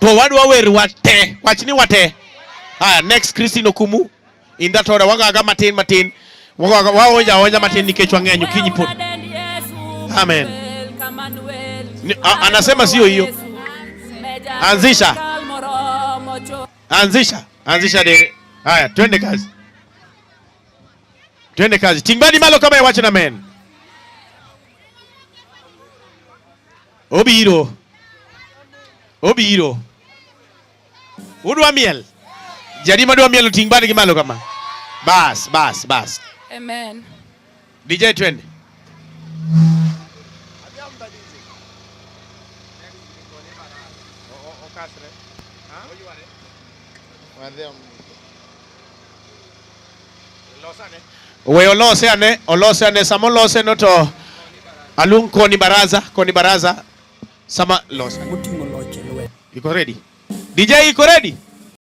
To wadwa wer wate. Wach ni wate. Haya, next Christine Okumu. In that order, wagaga matin matin. Wagaga waonja onja matin nikech wang'eny kinyi pod. Amen. Ni, a, anasema sio hiyo. Anzisha. Anzisha. Anzisha dere. Haya, twende kazi. Twende kazi. Tingbani malo kama ya wacha na men. Obiro. Obiro. Udwa miel? Jadi madwa miel oting' bad gi malo kama. Bas, bas, bas. Amen. DJ twende. Okasre. Ha? Oyware. Wadhi We olose ane, olose ane. Sama olose no to alung koni baraza, koni baraza. Sama lose. Iko ready? DJ iko ready?